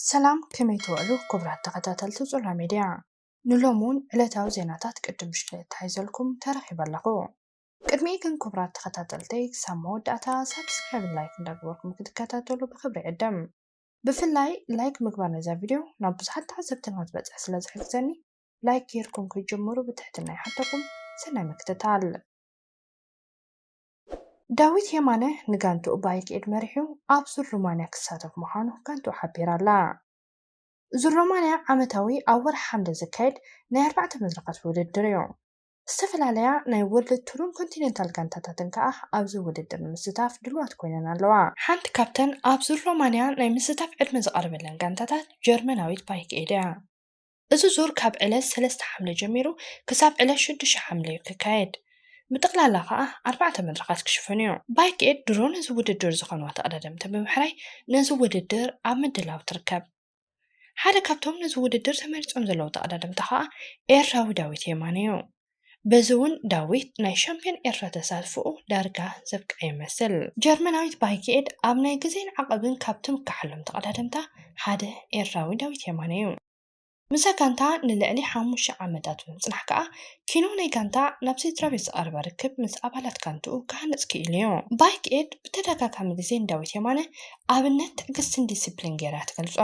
ሰላም ከመይ ትውዕሉ ክቡራት ተኸታተልቲ ዞላ ሚድያ፣ ንሎሚ ውን ዕለታዊ ዜናታት ቅድም ምሽተይ ኣተሓሒዘልኩም ተረኺበ ኣለኹ። ቅድሚኡ ግን ክቡራት ተኸታተልተይ ክሳብ መወዳእታ ሳብስክራይብን ላይክን እንዳገበርኩም ክትከታተሉ ብኽብሪ ይዕድም። ብፍላይ ላይክ ምግባር ነዛ ቪድዮ ናብ ብዙሓት ተዓዘብትና ክትበፅሕ ስለዝሕግዘኒ ላይክ ገይርኩም ክትጅምሩ ብትሕትና ይሓተኩም። ሰናይ ምክትታል። ዳዊት የማነ ንጋንትኡ ብኣይኪኤድ መሪሑ ኣብ ዙር ሩማንያ ክሳተፍ ምዃኑ ጋንትኡ ሓቢራ ኣላ። ዙር ሮማንያ ዓመታዊ ኣብ ወርሒ ሓምለ ዝካየድ ናይ ኣርባዕተ መድረኻት ውድድር እዩ። ዝተፈላለያ ናይ ወርልድ ቱርን ኮንቲነንታል ጋንታታትን ከኣ ኣብዚ ውድድር ንምስታፍ ድልዋት ኮይነን ኣለዋ። ሓንቲ ካብተን ኣብ ዙር ሮማንያ ናይ ምስታፍ ዕድመ ዝቐረበለን ጋንታታት ጀርመናዊት ባይኪኤድ እያ። እዚ ዙር ካብ ዕለት ሰለስተ ሓምለ ጀሚሩ ክሳብ ዕለት ሽዱሽተ ሓምለ እዩ ክካየድ። ብጠቕላላ ከኣ ኣርባዕተ መድረኻት ክሽፈን እዩ። ባይክ ኤድ ድሮ ነዚ ውድድር ዝኸኑ ተቐዳደምቲ ብምሕራይ ነዚ ውድድር ኣብ ምድላው ትርከብ። ሓደ ካብቶም ነዚ ውድድር ተመሪጾም ዘለዉ ተቐዳደምቲ ከኣ ኤርትራዊ ዳዊት የማነ እዩ። በዚ እውን ዳዊት ናይ ሻምፕዮን ኤርትራ ተሳትፎኡ ዳርጋ ዘብቅዐ ይመስል። ጀርመናዊት ባይክኤድ ኣብ ናይ ግዜን ዓቐብን ካብ ትምካሓሎም ተቐዳደምታ ሓደ ኤርትራዊ ዳዊት የማነ እዩ። ምስዛ ጋንታ ንልዕሊ ሓሙሽተ ዓመታት ብምጽናሕ ከኣ ኪኖ ናይ ጋንታ ናብ ስድራቤት ዝቐረበ ርክብ ምስ ኣባላት ጋንትኡ ክሃንጽ ክኢሉ እዩ። ባይክኤድ ብተደጋጋሚ ግዜ ንዳዊት የማነ ኣብነት ትዕግስትን ዲሲፕሊን ገይራ ትገልጾ።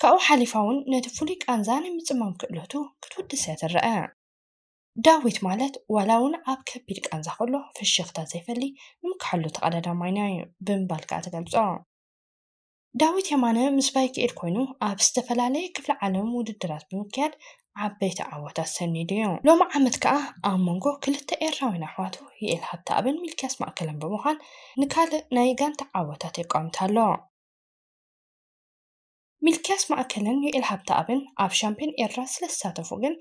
ካብኡ ሓሊፋ'ውን ነቲ ፍሉይ ቃንዛ ናይ ምጽማም ክእለቱ ክትውድሰ ትረኣ። ዳዊት ማለት ዋላ'ውን ኣብ ከቢድ ቃንዛ ከሎ ፍሽኽታ ዘይፈሊ ንምክሓሉ ተቐዳዳማይና'ዩ ብምባል ከኣ ትገልጾ። ዳዊት የማነ ምስ ባይክኤል ኮይኑ ኣብ ዝተፈላለየ ክፍለ ዓለም ውድድራት ብምክያድ ዓበይቲ ዓወታት ሰኒዱ'ዩ። ሎሚ ዓመት ከኣ ኣብ መንጎ ክልተ ኤርትራውያን ኣሕዋቱ ዩኤል ሃብተኣብን ሚልክያስ ማእከለን ብምዃን ንካልእ ናይ ጋንታ ዓወታት የቋምት ኣሎ። ሚልክያስ ማእከልን ዩኤል ሃብተኣብን ኣብ ሻምፕዮን ኤርትራ ስለ ዝሳተፉ ግን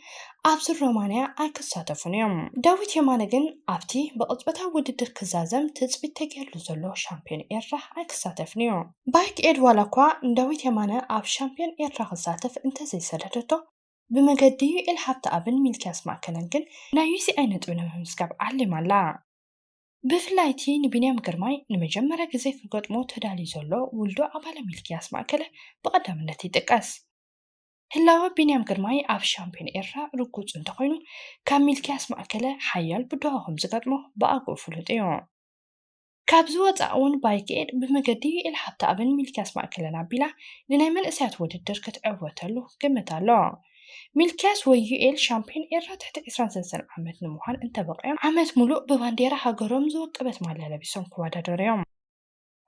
ኣብዚ ሮማንያ ኣይክሳተፉን እዮም። ዳዊት የማነ ግን ኣብቲ ብቕጽበታዊ ውድድር ክዛዘም ትጽቢት ተገይርሉ ዘሎ ሻምፕዮን ኤርትራ ኣይክሳተፍን እዩ። ባይክ ኤድ ዋላኳ ንዳዊት የማነ ኣብ ሻምፕዮን ኤርትራ ክሳተፍ እንተዘይሰደደቶ፣ ብመገዲ ዩኤል ሃብተኣብን ሚልክያስ ማእከለን ግን ናይ UCI ነጥቢ ንምምዝጋብ ዓሊማ ኣላ። ብፍላይ እቲ ንቢንያም ግርማይ ንመጀመርያ ግዜ ክገጥሞ ተዳልዩ ዘሎ ውልዶ ኣባለ ሚልክያስ ማእከለ ብቐዳምነት ይጥቀስ። ህላወ ቢንያም ግርማይ ኣብ ሻምፕዮን ኤርትራ ርጉጽ እንተኾይኑ፣ ካብ ሚልክያስ ማእከለ ሓያል ብድሆ ከምዝገጥሞ ብኣግኡ ፍሉጥ እዩ። ካብዚ ወጻእ'ውን ባይክኤድ ብመገዲ ዩኤል ሃብተኣብን ሚልክያስ ማእከለን ኣቢላ ንናይ መንእሰያት ውድድር ክትዕወተሉ ግምት ኣሎ። ሚልክያስ ወይ ዩኤል ሻምፕዮን ኤርትራ ትሕቲ ዕስራን ሰለስተን ዓመት ንምዃን እንተበቒዖም ዓመት ሙሉእ ብባንዴራ ሃገሮም ዝወቀበት ማልያ ለቢሶም ክወዳደሩ እዮም።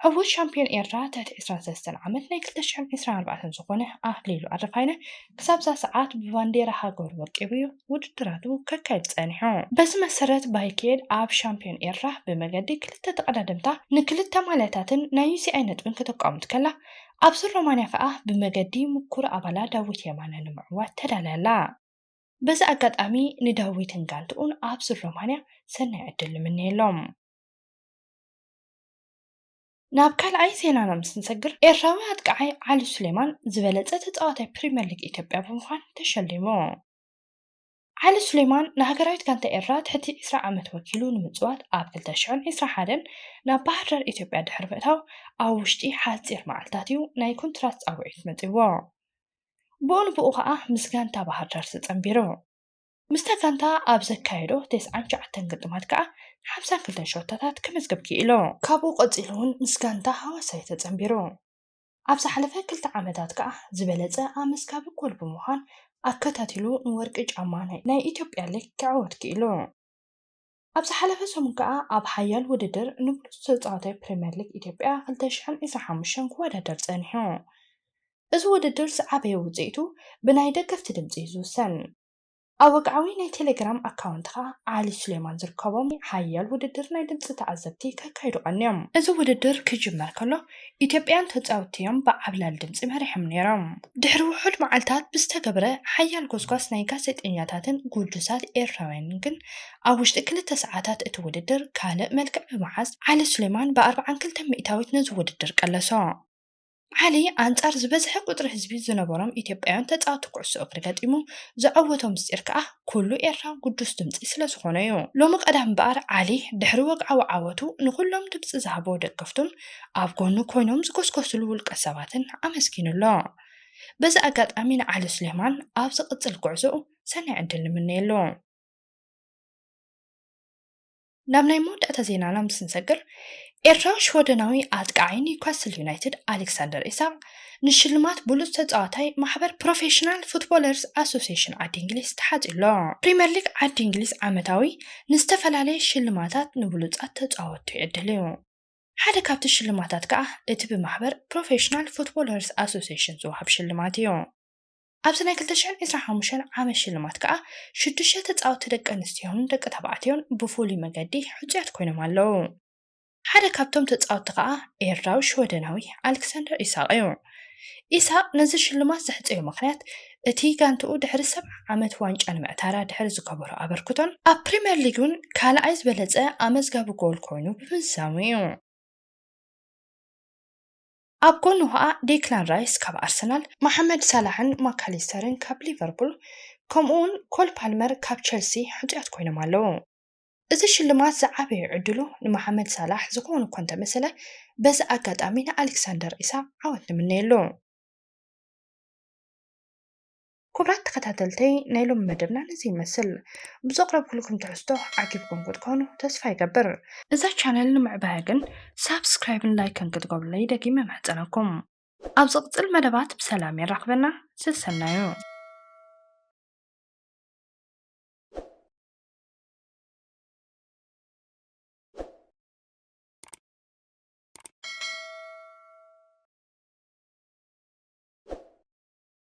ዕዉት ሻምፕዮን ኤርትራ ትሕቲ ዕስራን ሰለስተን ዓመት ናይ ክልተ ሽሕን ዕስራን ኣርባዕተን ዝኾነ ኣክሊሉ ኣረፋይነ ክሳብ'ዛ ሰዓት ብባንዴራ ሃገሩ ወቂቡ እዩ ውድድራቱ ከካይድ ጸኒሑ። በዚ መሰረት ባይክኤድ ኣብ ሻምፕዮን ኤርትራ ብመገዲ ክልተ ተቐዳደምታ ንክልተ ማልያታትን ናይ ዩሲኣይ ነጥብን ከተቋምት ከላ፣ ኣብዚ ሮማንያ ከኣ ብመገዲ ምኩር ኣባላ ዳዊት የማነ ንምዕዋት ተዳልያ ኣላ። በዚ ኣጋጣሚ ንዳዊትን ጋንትኡን ኣብዚ ሮማንያ ሰናይ ዕድል ንምነየሎም። ናብ ካልኣይ ዜናና ምስ ንሰግር፣ ኤርትራዊ ኣጥቃዓይ ዓሊ ሱሌማን ዝበለጸ ተጻዋታይ ፕሪመር ሊግ ኢትዮጵያ ብምዃን ተሸሊሙ። ዓሊ ሱሌማን ንሃገራዊት ጋንታ ኤርትራ ትሕቲ ዕስራ ዓመት ወኪሉ ንምጽዋት ኣብ ክልተ ሽሕን ዕስራን ሓደን ናብ ባህርዳር ኢትዮጵያ ድሕሪ ምእታው ኣብ ውሽጢ ሓጺር መዓልታት'ዩ ናይ ኮንትራት ጻውዒት መጺኡዎ። ብኡንብኡ ከኣ ምስ ጋንታ ባህርዳር ተጸንቢሩ። ምስታ ጋንታ ኣብ ዘካየዶ ተስዓን ትሽዓተን ግጥማት ከኣ ሓምሳን ክልተን ሸቶታት ከመዝግብ ክኢሉ። ካብኡ ቀጺሉ'ውን ምስ ጋንታ ሃዋሳ'ዩ ተጸንቢሩ። ኣብ ዝሓለፈ ክልተ ዓመታት ከኣ ዝበለጸ ኣመስጋቢ ጎል ብምዃን ኣከታቲሉ ንወርቂ ጫማ ናይ ኢትዮጵያ ሊግ ክዕወት ክኢሉ። ኣብ ዝሓለፈ ሰሙን ከኣ ኣብ ሓያል ውድድር ንብሉጽ ተጻዋታይ ፕሪመር ሊግ ኢትዮጵያ ክልተ ሽሕን ዕስራን ሓሙሽተን ክወዳደር ጸኒሑ። እዚ ውድድር ዝዓበየ ውጽኢቱ ብናይ ደገፍቲ ድምጺ'ዩ ዝውሰን። ኣብ ወግዓዊ ናይ ቴሌግራም ኣካውንትኻ ዓሊ ሱሌማን ዝርከቦም ሓያል ውድድር ናይ ድምጺ ተዓዘብቲ ከካይዱ ቀንዮም። እዚ ውድድር ክጅመር ከሎ ኢትዮጵያን ተጻወትቲ'ዮም ብዓብላሊ ድምጺ መሪሖም ነይሮም። ድሕሪ ውሑድ መዓልታት ብዝተገብረ ሓያል ጎስጓስ ናይ ጋዜጠኛታትን ግዱሳት ኤርትራውያንን ግን ኣብ ውሽጢ ክልተ ሰዓታት እቲ ውድድር ካልእ መልክዕ ብምሓዝ ዓሊ ሱሌማን ብኣርብዓን ክልተን ሚእታዊት ነዚ ውድድር ቀለሶ። ዓሊ ኣንጻር ዝበዝሐ ቁጽሪ ህዝቢ ዝነበሮም ኢትዮጵያውያን ተጻወቲ ኩዕሶ እግሪ ገጢሙ ዘዐወቶ ምስጢር ከኣ ኩሉ ኤርትራዊ ግዱስ ድምጺ ስለዝኾነ'ዩ። ሎሚ ቀዳም እምበኣር ዓሊ ድሕሪ ወግዓዊ ዓወቱ ንኹሎም ድምጺ ዝሃብዎ ደገፍቱን ኣብ ጎኑ ኮይኖም ዝጎስጎስሉ ውልቀ ሰባትን ኣመስጊኑ ኣሎ። በዚ ኣጋጣሚ ንዓሊ ሱሌማን ኣብ ዝቕጽል ጉዕዞኡ ሰናይ ዕድል ንምነየሉ። ናብ ናይ መወዳእታ ዜናና ምስ ንሰግር ኤርትራዊ ሽወደናዊ ኣጥቃዓይ ኒውካስል ዩናይትድ ኣሌክሳንደር ኢሳቕ ንሽልማት ብሉጽ ተጻዋታይ ማሕበር ፕሮፌሽናል ፉትቦለርስ ኣሶሴሽን ዓዲ እንግሊዝ ተሓጽዩ ኣሎ። ፕሪመር ሊግ ዓዲ እንግሊዝ ዓመታዊ ንዝተፈላለየ ሽልማታት ንብሉጻት ተጻወትቱ ይዕድል እዩ። ሓደ ካብቲ ሽልማታት ከኣ እቲ ብማሕበር ፕሮፌሽናል ፉትቦለርስ ኣሶሴሽን ዝወሃብ ሽልማት እዩ። ኣብዚ ናይ ክልተ ሽሕን ዒስራን ሓሙሽተን ዓመት ሽልማት ከኣ ሽዱሽተ ተጻወትቲ ደቂ ኣንስትዮን ደቂ ተባዕትዮን ብፍሉይ መገዲ ሕጹያት ኮይኖም ኣለዉ። ሓደ ካብቶም ተጻወትቲ ከኣ ኤርትራዊ ሽወደናዊ ኣልክሳንደር ኢሳቕ'ዩ። ኢሳቕ ነዚ ሽልማት ዘሕጸዮ ምኽንያት እቲ ጋንትኡ ድሕሪ ሰብዓ ዓመት ዋንጫ ንምዕታራ ድሕሪ ዝገበሮ ኣበርክቶን ኣብ ፕሪምየር ሊግ'ውን ካልኣይ ዝበለጸ ኣመዝጋቢ ጎል ኮይኑ ብምዝዛሙ'ዩ። ኣብ ጎኑ ኸኣ ዴክላን ራይስ ካብ ኣርሰናል፣ መሓመድ ሳላሕን ማካሊስተርን ካብ ሊቨርፑል ከምኡ'ውን ኮል ፓልመር ካብ ቸልሲ ሕጹያት ኮይኖም ኣለዉ። እዚ ሽልማት ዝዓበየ ዕድሉ ንመሓመድ ሳላሕ ዝኸውን እኳ እንተመሰለ በዚ ኣጋጣሚ ንኣሌክሳንደር ኢሳቕ ዓወት ንምነየሉ። ክቡራት ተኸታተልተይ ናይ ሎሚ መደብና ነዚ ይመስል። ብዘቕረብኩልኩም ትሕዝቶ ዓጊብኩም ክትኮኑ ተስፋ ይገብር። እዛ ቻነል ንምዕባያ ግን ሳብስክራይብን ላይክን ክትገብሩለይ ደጊመ እምሕጸነኩም። ኣብ ዝቕጽል መደባት ብሰላም የራኽበና ሰሰናዩ።